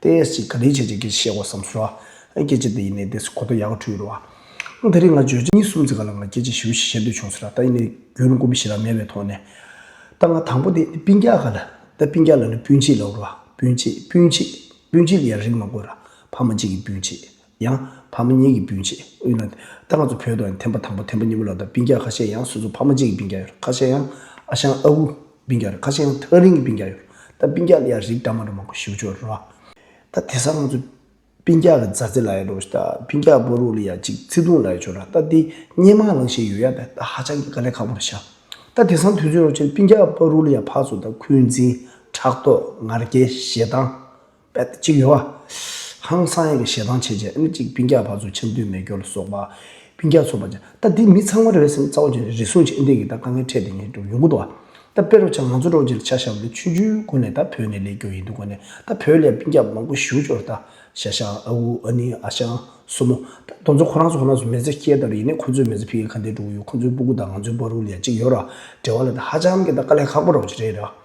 ཏེ། ཞེས་ག་རེ་བྱེད་ཅེས་ཀྱེ་ཞེས་བསམ་ཞུ། ཀྱེ་ཅེས་དེ་ཡིན་ནས་དེས་གོ་ཏོ་ཡག་ཁྲུས་རོ། དེ་རིང་ང་བརྗོད་བྱ་གཉིས་གསུམ་ཚིག་ག་ལ་ང་ཀྱེ་ཅེས་ཞུ་ཞེས་བཤད་འདོད་བྱུང་ཟེར། ད་ཡིན་ནས་རྒྱུ་ནི་ཀུན་པོ་བཞི་ལ་མེད་པའི་ཐོག་ནས། ད་ང་དང་པོ་དེ་སྤུན་རྒྱག་ག་ལ། ད་སྤུན་རྒྱག་ལ་ནི་སྤུན་མཆེད་ལ་འུར་བ། སྤུན་མཆེད་སྤུན་མཆེད་སྤུན་མཆེད་ལ་ཡང་རིགས་མ་དགོས་ར། ཕ་མ་གཅིག་གི་སྤུན་མཆེད། ཡང། ཕ་མ་གཉིས་ཀྱི་སྤུན་མཆེད་དབུས་ན། ད་ང་ཚོ་བོད་དུ་ཡང་ཐེམ་པ་དང་པོ་ཐེམ་པ་གཉིས་པོ་ལ་ད་སྤུན་རྒྱག་ཁ་ཤས་ཡང་སོ་སོ་ཕ་མ་གཅིག་གི་སྤུན་རྒྱག་ཡོད་ཁ་ཤས་ཡང་ཨ་ཞང་ཨ་བུ་སྤུན་རྒྱག་རེད་ཁ་ཤས་ཡང་ཐག་རིང་གི་སྤུན་རྒྱག་ཡོད་ད་སྤུན་རྒྱག་ལ་ཡང་རིགས་འདྲ་མང་འདྲ་མང་གོ་ཞིའུ་ཅོ་རེད་ད་དེ་སང་ང་ཚོ་སྤུན་རྒྱག་གི་མཛའ་བརྩེ་ལ་ཡང་འགྲོ་ཞིག་ད་སྤུན་རྒྱག་བོ་རུ་ལ་ཡང་གཅིག་བརྩེ་དུང་ལ་ཡང་ཆོ་རེད་ད་དེ་སྙན་མང་ལང་ཤེས་ཡོད་ཡ་ད་ད་ཧ་ཅང་གི་དཀའ་ལས་ཁག་པོ་རེད་ཤག་ད་དེ་སང་དུས་ཚོད་རོ་ཆེ་རེད་སྤུན་རྒྱག་བོ་རུ་ལ་ཡང་ཕག་ཚོ་ད་ཁུལ་འཛིན་ཕྲག་དོག་ངར་སྐྱེ་ཞེ་སྡང་པད་དེ་གཅིག་ཡོད། ཧང་སང་ཡིག་གི་ཞལ་ཐང་ཕྱེད་བཅས་ཨིན་གཅིག་སྤུན་བརྒྱ་བར་བཟོ་ཆེམས་བསྟུན་མེ་སྒྱོགས་ལ་སོགས་པ་སྤུན་བརྒྱ་ཚོགས་པ་བཅས་ད་དེ་མི་ཚང་མ་རེ་བའི་སེམས་རྩ་བ་ཅན་རེ་ཟུང་བཅས་ཨིན་དེ་གིས་ད་དཀའ་ངལ་འཕྲད་དེ་ངས་སྒྲུབ་ཡོང་གི་འདུག་ད་དཔེ་རུ་ཆ་ང་ཚོ་རོགས་ཀྱི་ལ་ཆ་ཞབས་ལས་ཆུ་ཆུའི་སྒོ་ནས་ད་བོད་ནས་ལས་རྒྱོ་ཡིན་འདུག་གོ་ནས་ད་བོད་ལས་སྤུན་བརྒྱ་མང་པོ་བཞུགས་ཆོག་རེད་ད་ཤ་ཞང་ཨ་འུ་ཨ་ནི་ཨ་ཞང་སོ་མོ་ད་རྡོ་མཚོ་ཁོ་རང་ཚོ་ཁོ་ན་ཚོ་མེ་བཙའ་སྐྱེལ་ད་རུ་ཡིན་ནས་ཁོ་ཚོས་མེ་བཙའ་ཕི་གི་ཁ་འདེད་སྒྲུག་གི་ཡོད་ཁོ་ཚོའི་སྤུ་གུ་ད་ང་ཚོའི་སྤ་རུ་ལ་ཡ་གཅིག་ཡོད་ར་འབྲེལ་བ་ལ་ད་ཧ་ཅང་གི་ད་དཀའ་ལས་ཁག་པོ་རོགས་ཀྱི་རེད་ར།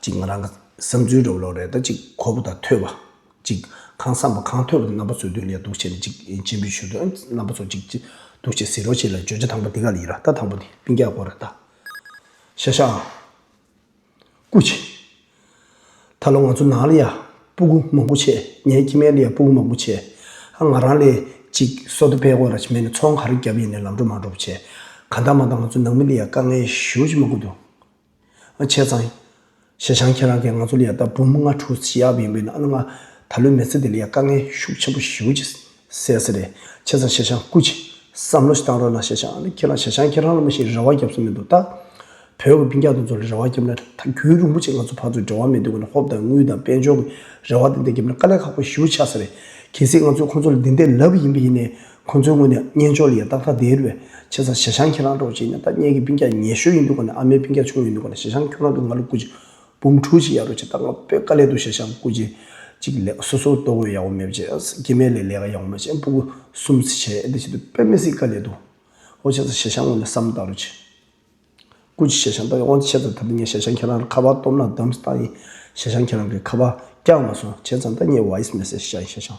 གཅིག་ང་རང་གི་བསམ་ཚུལ་རེད་བ་ལོག་རེད་ད་གཅིག་ཁོ་བོ་དང་ཐོས་པ། གཅིག་གང་བསམ་པ་གང་ཐོས་པ་དེ་རྣམ་པ་ཚོས་དོན་ལས་སྡུག་ཆེ་ན་གཅིག་སྤྱི་འབུལ་ཞུ་དོན་རྣམ་པ་ཚོ་གཅིག་སྡུག་ཆེ་ཟེར་རོ་ཆེ་ལ་བརྗོད་བྱ་དང་པོ་དེ་ག་ལ་ཡིན་ར་ད་དང་པོ་དེ་སྤིན་རྒྱག་དགོས་ར་ད། ཤ་ཤ་ཨང། ཀུ་ཆེ། ད་ལོ་ང་ཚོ་ནང་ལ་ཡ་སྤུ་གུ་མང་པོ་ཆེ་ངའི་ཁྱི་མའི་ལ་ཡ་སྤུ་གུ་མང་པོ་ཆེ་ཨ་ང་རང་ལས་གཅིག་སོ་ད་ཕེ་དགོས་ར་ཆེ་མེད་ན་ཚོང་ག་རེ་རྒྱབ་ཡིན་ནས་ལམ་འགྲོ་མ་འགྲོ་བ་ཆེ་ག་འདང་མ་འདང་ང་ཚོ་ནང་མི་ལ་ཡ་དཀའ་ངལ་ཞུ་ཆེ་མ་གུ་འདུག། བྱས་ཙང། ཞེ་ཆང་ཁྱེད་རང་གིས་ང་ཚོ་ལ་ཡང་ད་འབུམ་ལྔ་དྲུག་བྱེད་ཡག་ཡིན་པས་ན་ཨ་ན་ང་ད་ལོའི་མེལ་ཚེ་འདི་ལ་ཡང་དཀའ་ངལ་ཤུགས་ཆེན་པོ་ཞུ་ཅེས་ཟེར་གསལ་རེད་བྱས་ཙང་ཞེ་ཆང་སྐུ་ཅི། བསམ་བློ་ཞིག་བཏང་རོགས་གནང་ཞེ་ཆང་ཨ་ནི་ཁྱེད་རང་ཞེ་ཆང་ཁྱེད་རང་ལ་མི་ཞིག་རེ་བ་བརྒྱབ་སོང་མི་འདུག་ད། བོད་ཀྱི་པིང་ཀྱག་དུང་ཚོ་ལ་རེ་བ་བརྒྱབ་ན་ད་རྒྱུན་རིང་པོ་ཆེ་ང་ཚོ་ཕར་ཚུར་འབྲེལ་བ་མེད་དུས་ཀུན་ན་ཧོབ་དང་དངུལ་དང་དཔལ་འབྱོར་གྱི་རེ་བ་དེ་འད་བརྒྱབ་ན་དཀའ་ལས་ཁག་པོ་ཞུ་ཆགས་ས་རེད་གལ་སྲིད་ང་ཚོས་ཁོང་ཚོ་ལ་འདི་འད་ལབ་ཡིན་པ་ཡིན་ནས་ཁོ་ཚོའི་ངོས་ནས་བརྙན་ཅོར་ཡས་སྟག་ཐ་དེར་བའི་ཆེ་ས་ཞེ་ཞང་ཁྱེད་རང་འགྲོ་བྱས་ནས་ད་བརྙན་གྱི་སྤུན་སྐྱ་ཉེ་ཤོས་ཡིན་འདུག་ག་ནས་ཨ་མའི་སྤུན་སྐྱ་ཆུང་ཡིན་འདུག་ག་ནས་ཞེ་ཞང་ཁྱོད་རང་གི་ང་ལོ་སྐུ་ཅིག་འབུམ་དྲུག་ཅིག་ཡ་རོ་ཅིག་ད་ང་པོད་དཀའ་ལས་འདུག་ཞེ་ཞང་སྐུ་ཅིག་ཅིག་ལས་སོ་སོར་ལྟོ་གོས་ཡག་བོ་མེད་བྱས་ཨ་སྐྱེ་མེད་ལས་ལས་ཀ་ཡག་བོ་མ་བྱས་སྤུ་གུ་གསུམ་བྱས་ཨེ་འདི་བྱས་འདུག་པད་མི་སྲིད་དཀའ་ལས་འདུག་ཨོ་ཆེ་ས་ཞེ་ཞང་ངོ་ནས་བསམ་བཏང་རོ་ཅིག། སྐུ་ཅིག་ཞེ་ཞང་ལྟ་གི་དབང་ཆེ་ས་ད་ལྟ་ངས་ཞེ་ཞང་ཁྱེད་རང་ལ་ཁ་པར་སྟོབ་ན་བདམས་སྟངས་ཡིན་ཞེ་ཞང་ཁྱེད་རང་གི་ཁ་པར་བསྐྱངས་མ་སོང་བྱས་ཙང་ད་ངས་བཱིས་མེ་སེ་ཞེ་ཞང།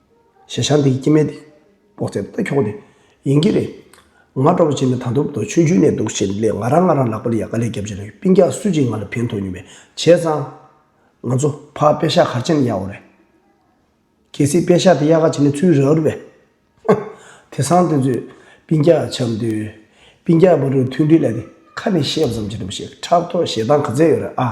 ཞེས་ཞག་འདིའི་སྐྱེ་མེད་དེ་དཔོག་ཚད་ལྟ་ཁྱོག་ནི་ཡིན་གྱི་རེད། ང་སྤྲོ་བོ་བྱས་ནས་ད་དུབ་དོ་ཆུན་ཆུན་ནས་འདུག་ཞེས་ལས་ང་རང་ང་རང་ལག་པ་ལ་ཡ་ག་ལས་རྒྱབ་ཅིང་རེག་པིན་ཀྱང་སུས་ཀྱིས་ང་ལ་ཕན་ཐོགས་ཉུང་བས་བྱས་ཙང། ང་ཚོ་ཕ་དཔེ་ཞག་གར་བྱས་ནས་ཡག་འོ་རེད། གལ་སྲིད་དཔེ་ཞག་དེ་ཡག་ག་བྱས་ནས་ཚུར་རག་རུ་བས། ཧཧ། དེ་སང་དེ་ཚོས་པིན་ཀྱག་འཆམ་དུས། པིན་ཀྱག་བ་རུ་ཐུག་འདྲིས་ལ་དེ་ཁ་ནས་བཤད་བསམ་གྱི་འདུག་ཞེས་ཕྲག་དོག་ཞེ་སྡང་ག་ཚད་ཡོད་རེད་ཨ།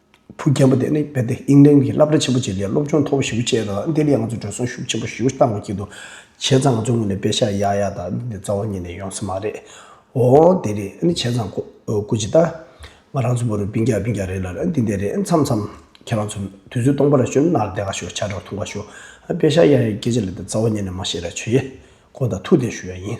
བུ་རྒན་པོ་དེ་ནི་རྦད་དེ་ཨིན་ལན་གྱི་བསླབ་གྲྭ་ཆེན་པོ་གཅིག་ལས་སློབ་སྦྱོང་མཐོ་པོ་ཞིག་སྤྱད་ཡོད་ལ་དེ་ལས་ང་ཚོར་འགྲོ་སོང་ཤུགས་ཆེན་པོ་ཞུ་སྟངས་ཀྱི་འདུག་བྱས་ཙང་ང་ཚོ་དངོས་ནས་དཔེ་ཆ་ཡག་ཡག་དག་འདི་འདྲ་རྩ་བ་ཉིད་ནས་ཡོང་ས་མ་རེད། འོ་དེ་རེད་ཨ་ནི་བྱས་ཙང་ཁོ་སྐུ་ཇི་ལྟ། ང་རང་ཚོ་བུ་རུ་བིན་རྒྱག་བིན་རྒྱག་རེད་ལ་ཨ་འདི་འདི་རེད་མཚམས་མཚམས་ཁྱེད་རང་ཚོ་དུས་ཚོད་སྟོང་པ་ར་ཞོ་ནར་བསྡད་ག་ཞོ་བྱ་བྲག་འཐུང་ག་ཞོ། དཔེ་ཆ་ཡག་ཡག་སྐད་ཆ་ལས་དེ་རྩ་བ་ཉིད་ནས་མ་བཤད་ར་ཆོས་ཡེ། ཁོང་དང་ཐུག་འཐེན་ཞུ་ཡག་ཡིན།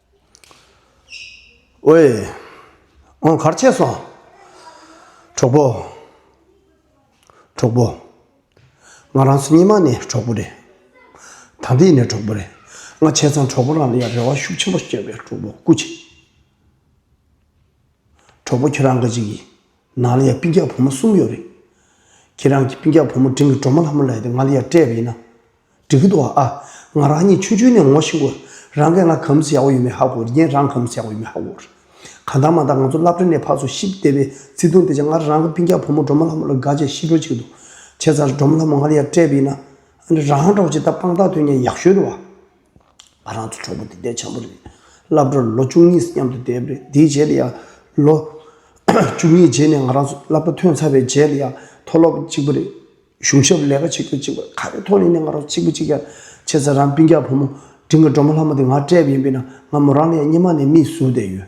ཨོའེ། ཨོང་གར་ཆས་སོང། གྲོགས་པོ། གྲོགས་པོ། ང་རང་ཚོ་གཉིས་མ་ནི་གྲོགས་པོ་རེད། ད་འདི་ནི་གྲོགས་པོ་རེད། ང་བྱས་ཙང་གྲོགས་པོ་རང་ལ་ཡང་རེ་བ་ཤུགས་ཆེན་པོ་བསྐྱོན་པས་གྲོགས་པོ་སྐུ་ཆེ། གྲོགས་པོ་ཁྱོད་རང་གི་ཅིག་ཡིན། ནང་ལ་ཡང་སྤུན་རྒྱག་བུ་མོ་གསུམ་ཡོད་རེད། ཁྱེད་རང་གིས་སྤུན་རྒྱག་བུ་མོ་འབྲིང་གི་གྲོགས་མོ་ལྷ་མོ་ལ་ཡོད་དེ་ང་ལ་ཡང་སྤྲད་པ་ཡིན་ན། འགྲིག་གི་འདུག་ཨ། ང་རང་གཉིས་ཆུང་ཆུང་ནས་ངོ་ཤེས་དགོས། རང་གིས་ང་གམ་སུ་ཡག་པོ་ཡོད་མེད་ཧ་གོ་རྒྱན་རང་གམ་སུ་ཡག་པོ་ཡོད་མེད་ཧ་གོ། གང་ལྟར་མ་མཐའ་ང་ཚོ་བླ་བྲེ་ནས་ཕར་ཚུར་ཤི་བསྡད་པའི་བརྩེ་དུང་དེ་ཆ་ང་རང་གི་སྤུན་རྒྱག་བུ་མོ་གྲོགས་མོ་ལྷ་མོ་ལ་དགའ་ཆེ་ཤི་འགྲོ་ཅིག་འདུག་བྱས་ཙང་རེད་གྲོགས་མོ་ལྷ་མོ་ང་ལ་ཡང་སྤྲད་པ་ཡིན་ན། ཨ་ནི་རང་གྲོགས་ཅིག་ད་དཔང་རྟགས་ཐོན་ཉེན་ཡག་ཤོས་རེད་བ། ང་རང་ཚོ་གྲོགས་པོ་དེ་ལྟའི་བྱ་འབུ་རེད། བླ་བྲོར་ལོ་བཅུ་གཉིས་སུ་མཉམ་དུ་བསྡད་པས་དེའི་རྗེས་ལ་ཡང་ལོ་བཅུ་གཉིས་རྗེས་ནས་ང་རང་ཚོ་བླ་བྲོ་ཐོན་ཚར་བའི་རྗེས་ལ་ཡང་མཐོ་སློབ་གཅིག་པུ་རེད། གཞུང་ཞབས་ལས་ཀ་བྱེད་ཁུལ་གཅིག་པུ་རེད་ཁ་རེ་ཐོག་ནས་ནི་ང་རང་ཚོ་གཅིག་པུ་གཅིག་ཀྱང་བྱས་ཚར་རམ་སྤུན་རྒྱག་བུ་མོ་འབྲིང་གི་སྒྲོལ་མ་ལྷ་མོ་དེ་ང་བཀྲེས་པ་ཡིན་པས་ན་ང་མོ་རང་ལ་ཡང་སྙེ་མ་ནས་མིག་ཟུག་བསྡད་ཡོད།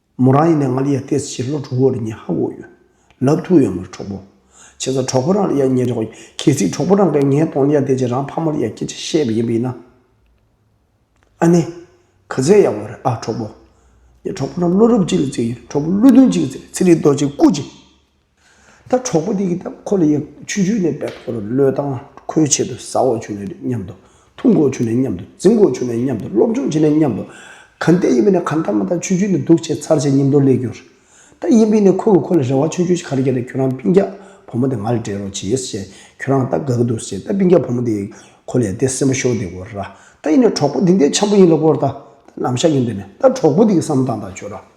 མོ་རང་ཡིན་ནའི་ང་ལ་ཡ་ཏེས་ཕྱིར་ལོག་གྲོགས་པོ་རེ་གཉིས་ཧ་གོ་ཡོད། ལབ་ཐུག་ཡོད་མོ་རེད་གྲོགས་པོ། བྱས་ཙང་གྲོགས་པོ་རང་ལ་ཡ་ཉེ་རེད། གལ་སྲིད་གྲོགས་པོ་རང་གིས་ངའི་གདོང་ལ་ཡ་ཏེས་ཀྱིས་རང་ཕ་མ་ལ་ཡ་སྐད་ཆ་བཤད་པ་ཡིན་པ་ཡིན་ན། ཨ་ནེ། ག་ཚད་ཡག་པོ་རེད་ཨ་གྲོགས་པོ། ངས་གྲོགས་པོ་རང་བློ་རབ་ཅིག་ལ་བརྩི་གི་ཡོད་རེད་གྲོགས་པོ་བློ་མཐུན་ཅིག་ལ་བརྩི་རེད་ཚིག་རིས་རྡོ་རྗེ་སྐུ་ཅིག། ད་གྲོགས་པོ་དེ་གིས་ད་ཁོ་ལ་ཡང་ཆུ་རྒྱུས་ནས་བལ་ཐོག་རུ་གློད་དང་ཁོའི་ཆེད་དུ་ཟ་འོག་བྱུང་ནས་མཉམ་དུ་འཐུང་འགོག་བྱུང་ནས་མཉམ་དུ་འཛིང་འགོག་བྱུང་ནས་མཉམ་དུ་སློབ་སྦྱོང་བྱས་ནས་མཉམ་དུ། གང་བལྟས་ཡིན་པས་ནི་གང་ལྟར་མ་ཐག་ཆུ་རྒྱུས་ནི་སྡུག་བྱས་མཚར་བྱས་ཉིན་ཐོ་ལེ་གྱུར། ད་ཡིན་པས་ནི་ཁོས་གི་ཁོ་ལ་རེ་བ་ཆུང་ཆུང་ཞིག་ག་རེ་བྱས་ཏེ་ཁྱོད་རང་སྤིན་རྒྱག་བུ་མོ་དེ་ང་ལ་སྤྲད་རོགས་བྱས་ཞེས་ཁྱོད་རང་ད་དགའ་གི་འདུག་ཟེར་ད་སྤིན་རྒྱག་བུ་མོ་དེས་ཁོ་ལས་དེ་སེམས་པ་ཤོར་དེ་གོ་ར་ད་ཡིན་ནས་གྲོགས་པོ་དེ་འདས་འཆམ་པོ་ཡིན་ལ་གོ་ར་ད་ནམ་ཞག་ཡིན་དུས་ནས་ད་གྲོགས་པོ་དེ་གི་བསམ་སྟངས་དག་བྱོས་ར།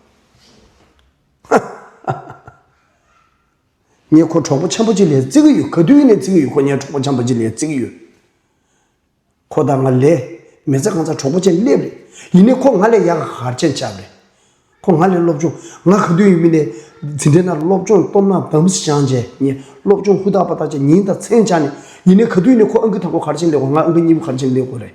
ཧ་ཧ་ཧ་ཧ། ངས་ཁོ་གྲོགས་པོ་འཆམ་པོ་གཅིག་ལས་བརྩི་གི་ཡོད་ག་དུས་ནས་བརྩི་གི་ཡོད་ཁོ་ངའི་གྲོགས་པོ་འཆམ་པོ་གཅིག་ལས་བརྩི་གི་ཡོད། ཁོ་དང་ང་ལས་མེད་ཚེ་གང་ཚ་གྲོགས་པོ་ཅན་སླེབས་རེད། ཡིན་ནས་ཁོ་ང་ལས་ཡག་ག་གར་ཅན་ཆགས་རེད། ཁོ་ང་ལས་སློབ་སྦྱོང་ང་ག་དུས་ཡིན་མིན་ནས་ཟིན་བྲིས་ན་སློབ་སྦྱོང་སྟོབས་ན་བམ་སི་སྦྱངས་རྗེས་ངས་སློབ་སྦྱོང་ཧུར་ཐག་པ་ཐག་བཅད་ཉིན་དང་མཚན་སྦྱངས་ནས་ཡིན་ནས་ག་དུས་ནས་ཁོ་ཨང་ཀི་དང་པོ་གར་ཅན་སླེབས་གོ་ང་ཨང་ཀི་གཉིས་པོ་གར་ཅན་སླེབས་གོ་རེད།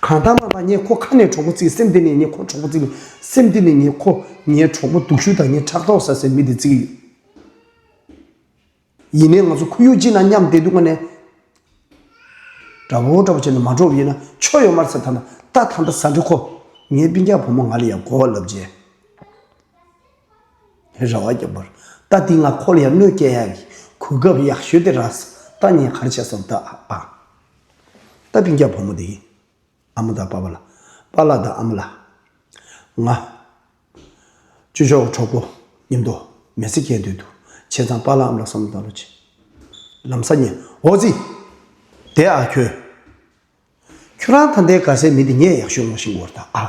གང་ལྟར་མ་མ་ངས་ཁོ་ཁ་ནས་གྲོགས་པོ་བརྩིས་སེམས་སྟེང་ནས་ངས་ཁོ་གྲོགས་པོ་བརྩིས་སེམས་སྟེང་ནས་ངས་ཁོ་ངའི་གྲོགས་པོ་སྡུག་ཤུལ་དང་ངའི་ཕྲག་དོག་ཟ་སའི་མི་དེ་བརྩིས་ཡོད། ཡིན་ནའི་ང་ཚོ་ཁོར་ཡུག་ཅིག་ནང་མཉམ་བསྡད་འདུག་ང་ནས་འདྲ་བོ་འདྲ་བོ་བྱས་ནས་མ་འགྲོ་བ་ཡིན་ན་ཆོ་ཡོད་མར་ཚ་ཐ་ན་རྟ་ཐ་མདའ་ཟ་འདྲ་ཁོ་ངའི་པིང་ཀྱག་བུ་མོ་ང་ལ་ཡང་གོ་བ་ལབ་རྗེས་ར་བ་རྒྱབ་པར་རྟ་འདིས་ང་ཁོ་ལ་ཡང་གནོད་སྐྱལ་ཡག་གི་གོ་སྐབས་ཡག་ཤོས་དེ་རགས་སོ་རྟ་ངས་གར་བྱས་སོང་རྟ་ཨ་ཨ། ད་བིང་རྒྱ་བུ་མོ་དེ་ཨ་མ་དང་པ་པ་ལ། པ་ལ་དང་ཨ་མ་ལ། ང། བཅུ་ཆོག་གི་གྲོགས་པོ་ཉིན་ཐོ་མེ་ཚེ་སྐྱེལ་འདོད་འདུག་བྱས་ཙང་པ་ལ་ཨ་མ་ལ་བསམ་བློ་བཏང་ལོ་ཅི། ལམ་ས་ཉེ་འོ་ཙི། དེ་ཨ་ཁྱོད། ཁྱོད་རང་ཐ་མདའི་དགའ་སའི་མི་དེ་ངས་ཡག་ཤོས་ངོ་ཤེས་འགོར་ད་ཨ།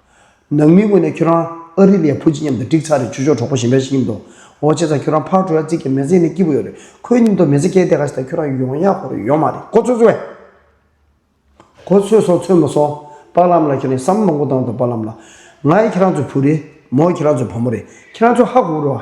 ནང་མིའི་ངོས་ནས་ཁྱོད་རང་ཨ་རི་ལའི་བུ་གཅིག་མཉམ་དུ་འགྲིག་ཚར་རེད་ཆུ་ཤོག་གྲོགས་པོ་གཞན་འདྲ་ཞིག་ཡིན་འདུག་འོ་ཅེ་ཚ་ཁྱོད་རང་ཕག་གྲོ་ཡ་རྩིས་ཀྱི་མེ་བཟས་ནས་སྐྱིད་པོ་ཡོད་རེད་ཁོའི་སྙིང་སྟོབས་མེ་བཟས་སྐྱེལ་བསྡད་ག་ཞིག་དང་ཁྱོད་རང་ཡོང་ཡག་གོ་རེ་ཡོད་མ་རེད་གོ་ཚོད་ཚོད། གོ་ཚོད་སོང་ཚོད་མ་སོང་པགས་ལམ་ལ་ཁྱོད་རང་བསམ་བློ་མང་པོ་བཏང་འདུག་པགས་ལམ་ལ། ང་ཡི་ཁྱེད་རང་ཚོའི་བུ་རེད་མོ་ཁྱེད་རང་ཚོའི་བུ་མོ་རེད་ཁྱེད་རང་ཚོ་ཧ་གོ་རུ་ཨ།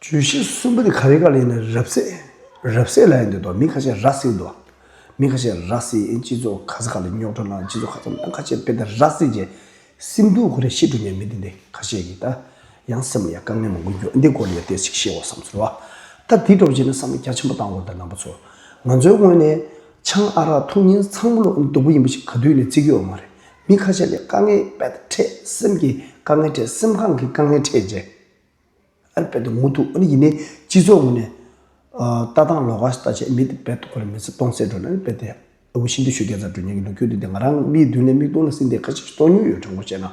བརྗོད་གཞི་གསུམ་པོ་དེ་ག་རེ་ག་ལས་ནི་རབ་གསལ་རབ་གསལ་ལ་ཡང་འདོད་དོ་མི་ཁ་ཤས་ར་བསིལ་འདུག་མི་ཁ་ཤས་ར་བསིལ་ཨེ་སྤྱི་ཚོགས་ག་ས་ག་ལ་རྙོག་དྲ་ནང་སྤྱི་ཚོགས་ག་ཚོད་ནང་ཁ་ཆེ་དཔེ་ལྟར་ར་བསིལ་གྱི་སེམས་སྡུག་གོ་རེ་ཤི་འགྲོ་ཉེན་མི་འདི་འདི་ཁ་ཤས་ཀྱིས་ད་ཡང་སེམས་ལ་ཡང་དཀའ་ངལ་མང་པོ་འགྱུར་འདི་སྐོར་ལ་ཡང་བལྟས་ཤིག་ཤེས་བ་བསམ་ཚུལ་བ་ད་དེ་སྒྲོག་བྱས་ནས་བསམ་བློ་རྒྱ་ཆེན་པོ་བཏང་དགོས་ད་ནང་པ་ཚོ་ང་ཚོའི་སྔོན་ནས་ཆང་ཨ་རག་འཐུང་ཉིན་ཚང་མ་ལོ་ཨུ་སྡུག་པོ་ཡིན་པ་ཞིག་ག་དུས་ནས་བརྩི་གི་ཡོད་མ་རེད་མི་ཁ་ཤས་ལས་དཀའ་ངལ་པད་ཕྲད་སེམས་ཀྱི་དཀའ་ངལ་ཕྲད་སེམས་ཁང་གི་དཀའ་ངལ་ཕྲད་རྗེས། ཨལ་པེ་ཏོ་དངུལ་དུག་ཨ་ནི་ཡིན་ནས་སྤྱི་ཚོགས་ངོས་ནས། ལྟ་སྟངས་ལོག་ཀ་ཞིག་ལྟ་ཆེད་མི་དེ་བེད་དུ་ཁོ་ལ་མི་ཚེ་སྟོང་ཟད་འགྲོ་ནའི་ཨལ་པེ་ཏེ། ཨ་བུ་ཤིན་ཏུ་ཤོད་རྒྱ་མཚར་འགྲོས་སྙན་གྱི་ལུག་ཁྱུ་འདི་དེ་ང་རང་མིའི་མདུན་ལས་མིག་སྟོང་ལ་སྲིད་འདི་ཁ་ཅིག་ཏོག་ཉུལ་ཡོད་དྲང་པོ་བཤད་ན།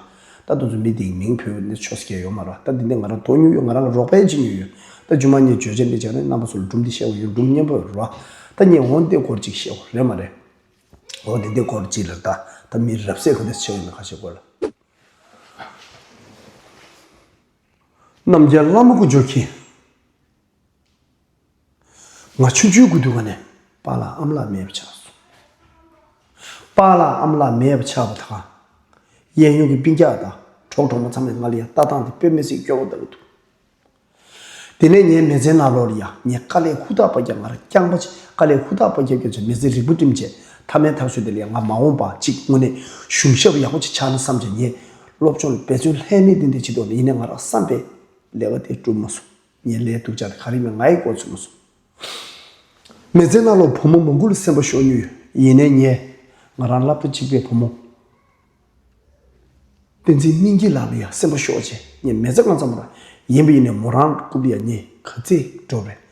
ད་དུང་ཚོ་མི་དེའི་མིང་བོས་འདི་ཆོ་ཟ་ཁྱེར་ཡོད་མ་རེད་ད་འདི་འདི་ང་རང་ཏོག་ཉུལ་ཡོད་ང་རང་རོགས་པའི་ཅིག་ཉུལ་ཡོད་ད་རྒྱུ་མ་ངས་བརྗོད་བྱ་འདི་ཅིག་རེད་རྣམ་པ་ཚོ་ལ་སྒྲུང་འདི་བཤད་དགོས་ཡོད་སྒྲུང་སྙན་པོ་རེད་རོ། ད་ངས་འོ་འདི་སྐོར་ཅིག་བཤད་རོགས་རེད་མ་རེད། འོ་འདི་འདི་སྐོར་ཅིག་ལེར་ལྟ་ད་མིའི་རབ་གསལ་ག་དེ་ཚོ་ཆེ་བ་ཡིན་ན་ཁ་ཤས་དགོས་ལ། རྣམ་རྒྱལ་བླ་མ་ཀུན་སྦྱོར་གྱིས། ང་ཆུང་ཆུང་དགུན་དུས་བ་ནས་དཔའ་བླ་ཨམ་བླ་མེད་པ་ཆགས་སོང། དཔའ་བླ་ཨམ་བླ་མེད་པ་ཆགས་པ་དང། གཡས་གཡོན་གྱི་སྤིན་རྒྱག་དང་གྲོགས་གྲོགས་མོ་ཚང་མས་ང་ལ་ཡང་ལྟ་སྟངས་དེ་དཔེ་མི་སྲིད་སྐྱོ་བོ་ལྟ་བུ་འདུག། དེ་ནས་ངའི་མེ་ཚའི་ནག་ལོ་ལ་ཡང་ངས་དཀའ་ལས་ཧུར་ཐག་པ་རྒྱབ་ང་རང་རྐྱང་པ་ཆེ་དཀའ་ལས་ཧུར་ཐག་པ་རྒྱབ་རྒྱབ་ཅིང་མེ་ཚའི་རིགས་བུ་བསྟིམ་བྱས་མཐའ་མའི་ཐག་གཅོད་དེ་ལ་ཡང་ང་མ་འོངས་པ་གཅིག་དངོས་གནས་གཞུང་ཞབས་ཡག་པོ་ཅིག་ཆགས་ན་བསམ་ཅིང་ངས་སློབ་སྦྱོང་ལ་འབད་བརྩོན་ལྷད་མེད་གཏོང་དུས་ཕྱི་ལྡོག་ལ་ཡིན་ནའི་ང་རང་བསམ་པའི་ལས་ཀ་དེ་གྲུབ་མ་སོང། ངའི་ལས་སྡུག་ཅག་དེ་ག་རེ་མིན་ང་ཡིས་འགོ་འཚོས་མ་སོང། མི་ཚེ་གནའ་ལོག་བུ་མོ་མང་པོ་ལ་སེམས་པ་ཤོར་མྱོང་ཡོད། ཡིན་ནའི་ངས་ང་རང་ལབ་ཏུ་འཇིགས་པའི་བུ་མོ། བསྟན་འཛིན་སྙིང་སྐྱིད་ལགས་ལ་ཡང་སེམས་པ་ཤོར་རྗེས་ངས་མི་ཚེ་སྔ་ཙམ་ར་ཡིན་པ་ཡིན་ནའི་མོ་རང་ལ་རྐུབ་ལ་ཡ་མྱི་ག་ཚིག་སྒྲོག་པའི་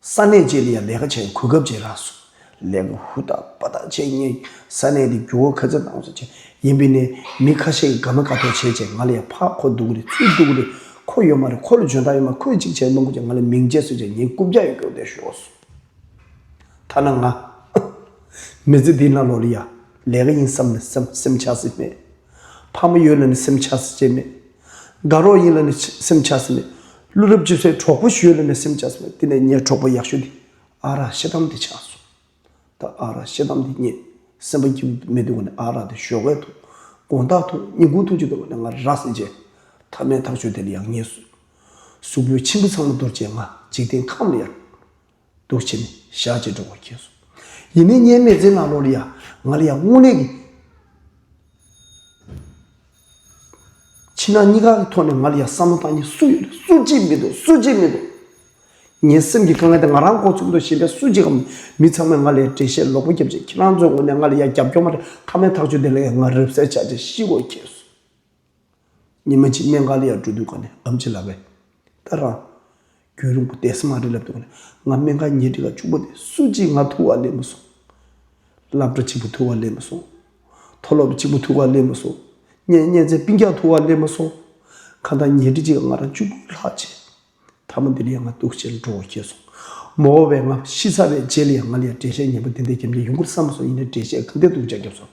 ས་གནས་བཅས་དེ་ཡང་ལས་ཀ་བྱས་གོ་སྐབས་བྱས་རག་སོང། ལས་ཀ་ཧུར་ཐག་དཔའ་ཐག་བྱས་ངས་ས་གནས་དེ་འགྱུར་བ་ཁ་ཚ་དྭངས་སུ་བྱས། ཡིན་པས་ནས་མི་ཁ་ཤས་ཀྱིས་དགའ་མ་དགའ་ཐོག་བྱས་བྱས་ང་ལ་ཡང་ཕར་ཁོ་འདུག་གི་རེད་ཚུར་འདུག་གི་རེད་ཁོ་ཡོད་མ་རེད་ཁོ་ལ་འཇོན་ཐང་ཡོད་མ་ཁོས་ཅིག་བྱས་རླུང་ཁུག་བྱས་ང་ལ་མིང་བརྗེ་གསོད་བྱས་ངའི་རྐུབ་བཀྱག་ཡོད་སྐྱོར་ལྡན་ཤོར་བ་སོགས་ཐ་ན་ང། མི་ཚེ་འདིའི་ནང་ལོ་ལ་ཡང་ལས་ཀ་ཡིན་བསམ་ནས་སེམས་ཆགས་སྲིད་མོད། ཕག་མོ་ཡོད་ལ་ནི་སེམས་ཆགས་སེ་བྱེད་མེད། དགའ་རོགས་ཡིན་ལ་ནི་སེམས་ཆགས་སེ་མེད། ཀླུ་རབས་ཅི་སེ་གྲོགས་པོ་ཞུས་ལ་ནི་སེམས་ཆགས་སེ་མེད་དེ་ནས་ངའི་གྲོགས་པོ་ཡག་ཤོས་འདི་ཨ་རག་ཤེ་དམ་དེ་ཆགས་སོ། ད་ཨ་རག་ཤེ་དམ་དེ་རྙེད་སེམས་པ་སྐྱིད་པོ་མི་འདུག་ག་ནི་ཨ་རག་དེ་ཞོགས་ཀས་འཐུང་དགོང་དག་འཐུང་ཉིན་དགུང་འཐུང་ཅི་འདུག་ག་ནི་ང་ར་རག་སེ་བྱེད། ཐ་མའི་ཐག་ཆོད་དེ་ལ་ཡག་ཉེས་སུ། གཟུགས་པོའི་འཆི་འཕོ་ཚང་མ་འདོར་བྱས་ང་འཇིག་རྟེན་ཁམས་ལ་ཡར། འདུག་བྱས་ནས་ཞག་གཅིག་འགྲོ་དགོས་ཁྱེད་སོང། ཡིན་ནའི་བརྙན་མེད་ཚེ་ང་ལོ་ལ་ཡ། ང་ལ་ཡ་དངོས་གནས་ཀྱི། ཕྱི་ནང་གཉིས་ཀ་གི་ཐོག་ནས་ང་ལ་ཡ་བསམ་བློ་བཏང་མཁན་སུ་ཡོད་རེད་སུ་གཅིག་མི་འདུག་སུ་གཅིག་མི་འདུག། ངའི་སེམས་ཀྱི་དཀའ་ངལ་དེ་ང་རང་ཁོ་ཚོའི་ཁུར་དུ་བཞེས་མཁན་སུ་གཅིག་གམ། མི་ཚང་མས་ང་ལ་ཡ་འགྲེལ་བཤད་ལོག་པོ་བརྒྱབ་རྗེས་ཁྱེད་རང་ཚོའི་ངོས་ནས་ང་ལ་ཡ་རྒྱབ་སྐྱོར་མ་རེད་མཐའ་མའི་ཐག་གཅོད་དེ་ལ་ཡ་ང་རབ་གསལ་བྱ་རྗེས་ཤི་དགོས་ཁྱེད་སོང། ཉི་མ་གཅིག་གནས་འགའ་ལེའི་སྤྲོ་བསྡུ་ག་ནས་ཨམ་ཆི་ལ་བས། ད་རང། རྒྱུན་རིང་པོ་དད་སེམས་མ་རེད་ལབ་འདུག་ང་སྨན་ཁང་ཉལ་ཁྲི་ཁ་བཅུ་པོ་དེ་སུ་གཅིག་ང་ཐུག་བར་ལེན་མི་སོང། བསླབ་གྲ་གཅིག་པོ་ཐུག་བར་ལེན་མི་སོང། མཐོ་སློབ་གཅིག་པོ་ཐུག་བར་ལེན་མི་སོང། བརྙན་བརྙན་ཚད་སྤིན་རྒྱག་ཐུག་བར་ལེན་མི་སོང། ཁ་མཐའ་ཉལ་ཁྲི་གཅིག་ག་ང་རང་བཅུ་དགུ་ལྷག་བྱས། ཐ་མ་འདི་ལས་ཡང་ང་སྡུག་ཆེ་རུ་འགྲོ་འོ་ཤེས་སོང། མོ་བོ་བས་ང་ཤི་ཚར་བའི་རྗེས་ལ་ཡང་ང་ལ་ཡང་འགྲེལ་བཤད་ཉན་པོ་དེ་འདྲས་རྒྱབ་མཁན་ཡོང་གི་རེད་བསམ་སོང་ཡིན་ན་འགྲེལ་བཤད་གང་ཐད་སྡུག་ཅག་རྒྱབ་སོང།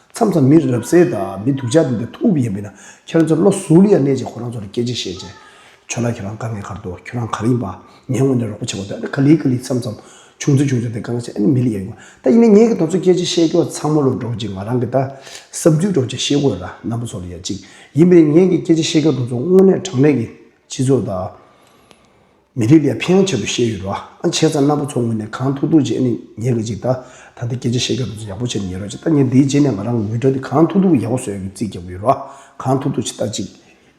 མཚམས་མཚམས་མི་རབས་གསལ་དང་མི་སྡུག་ཅག་འདི་ལྟར་ཐུག་གི་ཡིན་པས་ན་ཁྱེད་རང་ཚོ་བློ་གཟུ་ལི་ཡ་གནས་ཀྱི་ཁོ་རང་ཚོ་ལ་སྐད་ཅིག་བཤད་རྗེས། ཁྱོད་ལ་ཁྱོད་རང་དཀའ་ངལ་གར་འདུག་ཁྱོད་རང་གར་ཡིན་པ། ངས་དངོས་ནས་རོགས་པ་བྱེད་དགོས་འདུག་ཨ་ནི་ག་ལི་ག་ལི་མཚམས་མཚམས་བྱུང་ཚུལ་བྱུང་ཚུལ་དེ་གང་ལ་བྱེད་ཨ་ནི་མི་ལི་ཡ་ཡིན་དགོས་ད་ཡིན་ནའི་ངས་ཁྱེད་རང་ཚོ་སྐད་ཅིག་བཤད་ཁྱོད་ཚང་མ་ལོ་འགྲོ་ཅིག་ང་རང་གི་ད་བསམ་ཚུལ་སྒྲོག་ཅིག་ཤེས་དགོས་ར་ནམ་པོ་ཚོ་ལི་ཡ་ཅིག་ཡིན་པས་ན་ངས་ཀྱི་སྐད་ཅིག་བཤད་ཁྱོད་རང་ཚོ་དངོས་གནས་དྲང་གནས་ཀྱི་སྤྱི་ཚོགས་དང། མི་རིགས་ལས་ཕན་ཆེ་བོ་བཤད་ཡོད་རོ་ཨ་འཆད་ཙང་རྣམ་པ་ཚོ་ངོས་ནས་གང་ཐུག་ཐུག་རྗེས་ནས་ཉན་གི་ཅིག་ད་ད་ལྟ་སྐད་ཆ་བཤད་སྐབས་རྫུན་ཡག་པོ་བྱས་ནས་ཉན་རོགས་ཅིག་ད་ངས་འདིའི་རྗེས་ནས་ང་རང་ངོས་སྒྲ་དེ་གང་ཐུག་ཐུག་ཡག་པོ་བཟོ་ཡག་གི་རྩིས་རྒྱག་གི་ཡོད་རོ་གང་ཐུག་ཐུག་ཅིག་ད་ཅིག་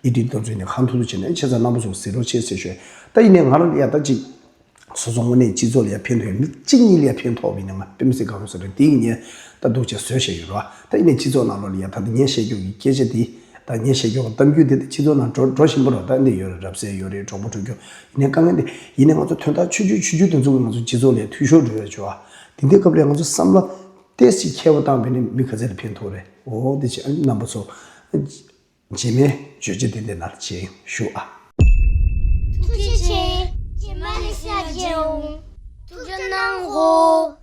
ཨི་དེ་ད་རྫུན་ནས་གང་ཐུག་ཐུག་བྱས་ནས་ཨ་འཆད་ཙང་རྣམ་པ་ཚོ་ཟིག་རོགས་ཆེ་ཟེར་ཞོད་ད་ཡིན་ནས་ང་རང་ཡ་ད་ཅིག་བཟོ་ཚོ་ངོ་ནས་སྤྱི་ཚོགས་ལས་ཕན་ཐོག་ཡོད་མི་གཅིག་གཉིས་ལས་ཕན་ཐོག་བས་ནས་ང་དཔེ་མི་སྲིད་གང་རུང་ཟེར་རོ་དེ་ཡིན་ནས་ད་འདུག་ཅེས་ཟོས་བཤད་ཡོད་རོ་ད་ཡིན་ནས་སྤྱི་ཚོགས་ནང་ལོག་ལ་ཡ་ད་ད་ངས་བཤད་རྒྱུར་གི་སྐད་ཆ་དེ། ད་ངས་བཤད་རྒྱུ་འོང་གཏམ་རྒྱུད་འདི་དེ་ཕྱི་ཚུལ་ནང་འགྲོ་འགྲོ་བཞིན་པོ་རོགས་ཟླ་འདི་ཡོད་རེད་རབ་གསལ་ཡོད་རེད་གྲོགས་པོ་དྲུག་ཁྱོད་ཡིན་ནའི་དཀའ་ངལ་འདི་ཡིན་ནའི་ང་ཚོ་དོན་དག་ཆོས་རྒྱུད་ཆོས་རྒྱུད་དེ་ཚོ་གི་ང་ཚོ་སྤྱི་ཚོགས་ལས་འཐུས་ཤོར་འགྲོ་ཡོད་ཆོས་ཨ། དེ་འདི་སྐབས་རེ་ང་ཚོ་བསམ་བློ་ཏེས་ཅིག་ཁྱེར་བ་བཏང་བས་ནི་མི་ག་ཚད་ལ་ཕན་ཐོག་རེད་འོ་འདི་བྱས་ཨ་ནི་རྣམ་པ་ཚོ། རྗེས་མའི་བརྗོད་བྱ་དེ་འདི་ན་བྱིན་ཞུ་ཨ། ཐུགས་རྗེ་ཆེ། རྗེས་མ་ནས་ཤ་རྒྱས་འོང། ཐུགས་རྗེ་གནང་ངོ།